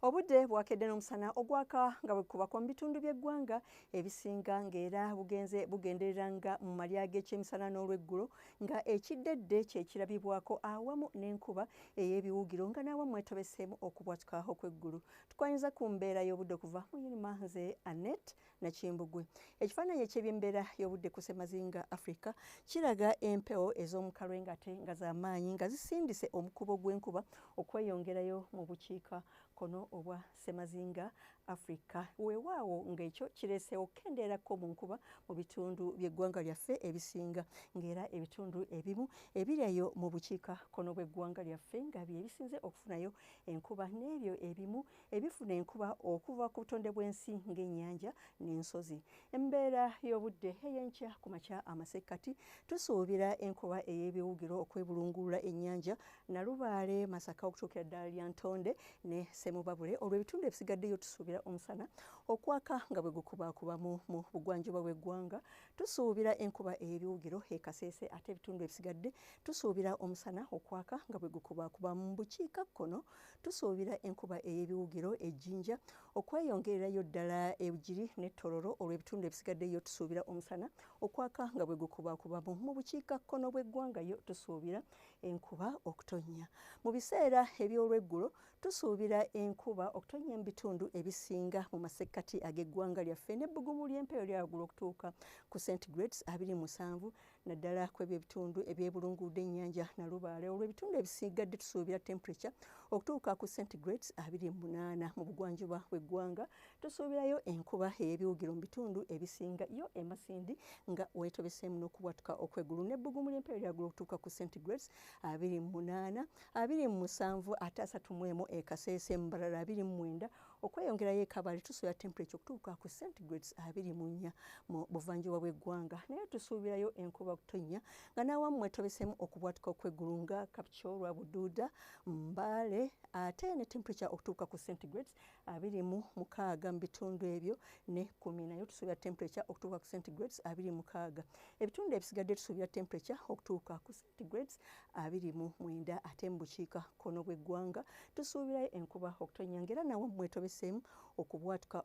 obudde bwakedde n'omusana ogwaka nga bwekubako mu bitundu by'eggwanga ebisinga ng'era bugenze bugenderera nga mu malya g'ekyemisana n'olweggulo nga ekiddedde kyekirabibwako awamu n'enkuba ey'ebiwugiro nga n'awamu mwetobeseemu okubwatuka okw'eggulu tukwanyuza ku mbeera y'obudde okuva mu yunima nze annette Nakimbugwe. Ekifaananyi eky'ebyembeera y'obudde ku ssemazinga Afrika kiraga empewo ez'omu kalwengate nga z'amaanyi nga zisindise omukubo gw'enkuba okweyongerayo mu bukiika kono obwa ssemazinga Afrika. Weewaawo ng'ekyo kireeseewo okukendeerako mu nkuba mu bitundu by'eggwanga lyaffe ebisinga ng'era ebitundu ebimu ebiryayo mu bukiika kono bw'eggwanga lyaffe nga bye bisinze okufunayo enkuba n'ebyo ebimu ebifuna enkuba okuva ku butonde bw'ensi ng'ennyanja n'ensozi embeera y'obudde ey'enkya ku makya amasekkati tusuubira enkuba ey'ebiwugiro okwebulungulula ennyanja nalubaale masaka okutuukira ddala lya ntonde ne semubabule olwo ebitundu ebisigaddeyo tusuubira omusana okwaka nga bwe gukubakubamu mu bugwanjuba bw'eggwanga tusuubira enkuba ey'ebiwugiro ekaseese ate ebitundu ebisigadde tusuubira omusana okwaka nga bwe gukubakubamu bukiika kkono tusuubira enkuba ey'ebiwugiro ejjinja okweyongererayo ddala ebugiri ne tororo olw'ebitundu ebisigaddeyo tusuubira omusana okwaka nga bwe gukubakubamu mu bukiikakkono bw'eggwanga yo tusuubira enkuba okutonnya mu biseera eby'olweggulo tusuubira enkuba okutonnya mu bitundu ebisinga mu masekkati ag'eggwanga lyaffe n'ebbugumu ly'empeeyo lya waggulu okutuuka ku centigrades abiri musanvu naddala ku ebyo ebitundu ebyebulunguudde ennyanja nalubaale olwo ebitundu ebisigadde tusuubira temperature okutuuka ku centigrades abiri mu munaana mu bugwanjuba bw'eggwanga tusuubirayo enkuba ey'ebiwugiro mu bitundu ebisinga yo emasindi nga weetobeseemu n'okubwatuka okwegulu n'ebbugumu ly'empewo lyagulu okutuuka ku centigrades abiri mu munaana abiri mu musanvu ate asatu mu emu ekaseese mu mbalala abiri mu mwenda okweyongerayo ekabale tusobola temperature okutuuka ku centigrades abiri mu nnya mu buvanjuba bw'eggwanga naye tusuubirayo enkuba kutonnya nga n'awammwe tobesemu okubwatuka okw'eggulu nga kapchorwa buduuda mbaale ate ne temperature okutuuka ku centigrades abiri mu mukaaga mu bitundu ebyo ne kumi nayo tusuubira temperature okutuuka ku centigrades abiri mukaaga ebitundu ebisigadde tusuubira temperature okutuuka ku centigrades abiri mu mwenda ate mu bukiika kkono bw'eggwanga tusuubirayo enkuba okutonnya ng'era nawo mwetobeseemu okubwatuka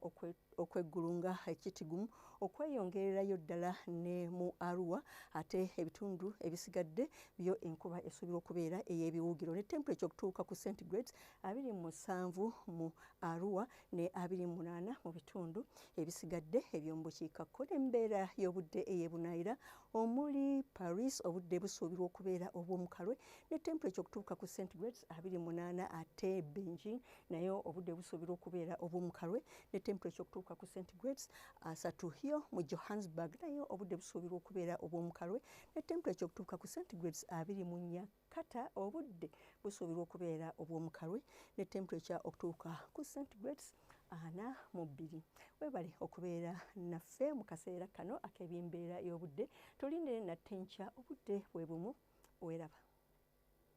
okweggulunga ekitigumu okweyongererayo ddala ne mu arua ate ebitundu ebisigadde byo enkuba esuubirwa okubeera ey'ebiwugiro ne temperature okutuuka ku centigrades abiri mu musanvu mu arua ne abiri mu munaana mu bitundu ebisigadde eby'omu bukiika kkono embeera y'obudde ey'ebunaayira omuli paris obudde busuubirwa okubeera obw'omukalwe ne temperature okutuuka ku centigrades 28 ate beijing naye obudde busuubirwa okubeera obw'omukalwe ne temperature okutuuka ku centigrades 3 hiyo mu johannesburg naye obudde busuubirwa okubeera obw'omukalwe ne temperature okutuuka ku centigrades 24 kata obudde busuubirwa okubeera obw'omukalwe ne tempurekya okutuuka ku centigrades ana mu bbiri webale okubeera naffe mu kaseera kano ak'ebimbeera y'obudde tulindire natte nkya obudde bwe bumu weraba